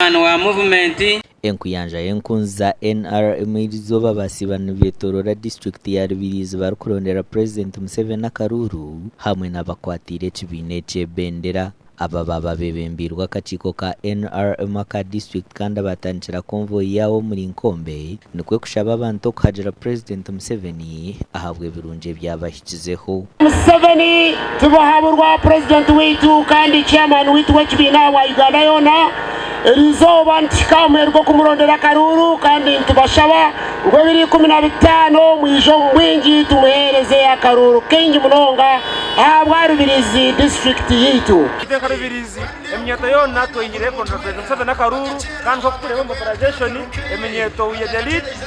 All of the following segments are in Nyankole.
Omwani wa Muvumenti. Enkuyanja y'enkunzi za NRM eri izooba basiiba nibetoroora disiturikiti ya Rubirizi barikurondera purezidenti Museveni akaruuru hamwe n'abakwatiire ekibiina eky'ebendera. Aba baaba bebembeirwe akakiiko ka NRM aka disiturikiti kandi abatandikira konvoyi yaabo omuri Nkombe nikwo kushaba abantu okuhagira purezidenti Museveni ahabw'ebirungi ebyabahisize. agikizeho. Museveni tibuhaburwa purezidenti waitu kandi chairman waitu w'ekibiina aha bwa Uganda yoona, eri izooba nituhika aha muheru gw'okumurondera akaruuru kandi nitubashaba ngu ebiri ikumi na bitaano mwije omu bwingi tumuheereze akaruuru kaingi munonga ahabwa Rubirizi disiturikiti yaitu. Amateka Rubirizi, eminyeeto yoona tweyihire kurondera purezidenti Museveni akaruuru kandi nk'oku tureeba mobilization, eminyeeto we are the lead.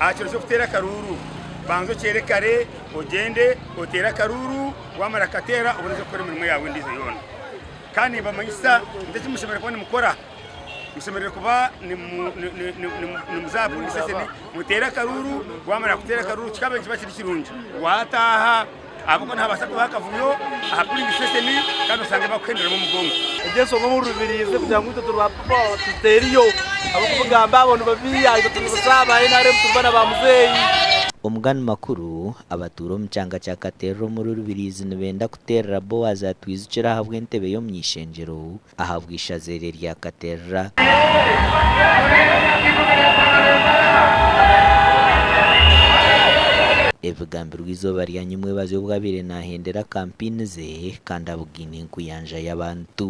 Aha kiro ky'okuteera akaruuru, banza okyere kare ogyende oteere akaruuru, waamara kukateera obone oze kukora emirimo yaawe endiijo yoona. Kandi nimbamanyisa nti eki mushemereire kuba nimukora, mushemereire kuba nimuza aha puliisi sitesheni muteere akaruuru, waamara kuteera akaruuru kikaba nikiba kiri kirungi waataaha. Ahabw'okuba nihabaasa kubaho akavuyo aha pulingi sitesheni kandi osange bakuhenderamu omugongo. Egyo enshonga omu rubirizi kugira ngu itwe turi ba pipo tuteriyo ahabw'okubugamba abo ni babi aha itwe turi busa ba nrm turi baana ba muzeeyi. Omugani makuru, Abatuura omu kyanga kya Katerere omuri Rubiriizi nibenda kuteerera Boazi atwijukire ahabw'entebe y'omu ishengyero ahabw'eishaza eryo eryakaterera. Ebigambirwe eizooba rya nyimwebazi obu abaire naahendera kampini ze kandi abugaine enkuyanja y'abantu.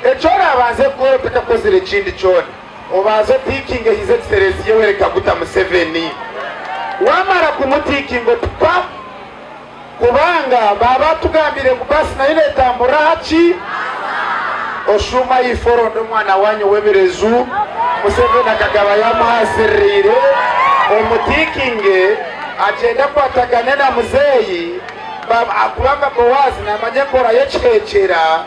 Eki oraabanze kukora otakakozire ekindi kyona, obanze otiikinge hiza ekiterezi Yoweri Kaguta Museveni. Waamara kumutiikinga oti pa. Kubanga baaba batugambiire ngu baasi nayo neetamburira aha ki? Oshuuma ahaifo oronde omwana waanyu ow'ebireju, Museveni akagaba yaamuha asiririire, omutiikinge agyende akwatagane na muzeeyi, ba, ahakuba nga Boazi naamanya enkora y'ekiheekyera.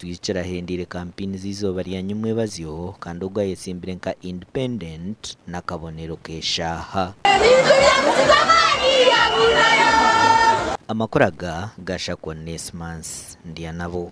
Twijukire ahendeire kampini z'eizooba rya Nyimwebazyo kandi ogu ayetsimbire nka Independent n'akabonero k'eshaaha. Amakuru aga ga Shakwa Onesmus Ndyanabo.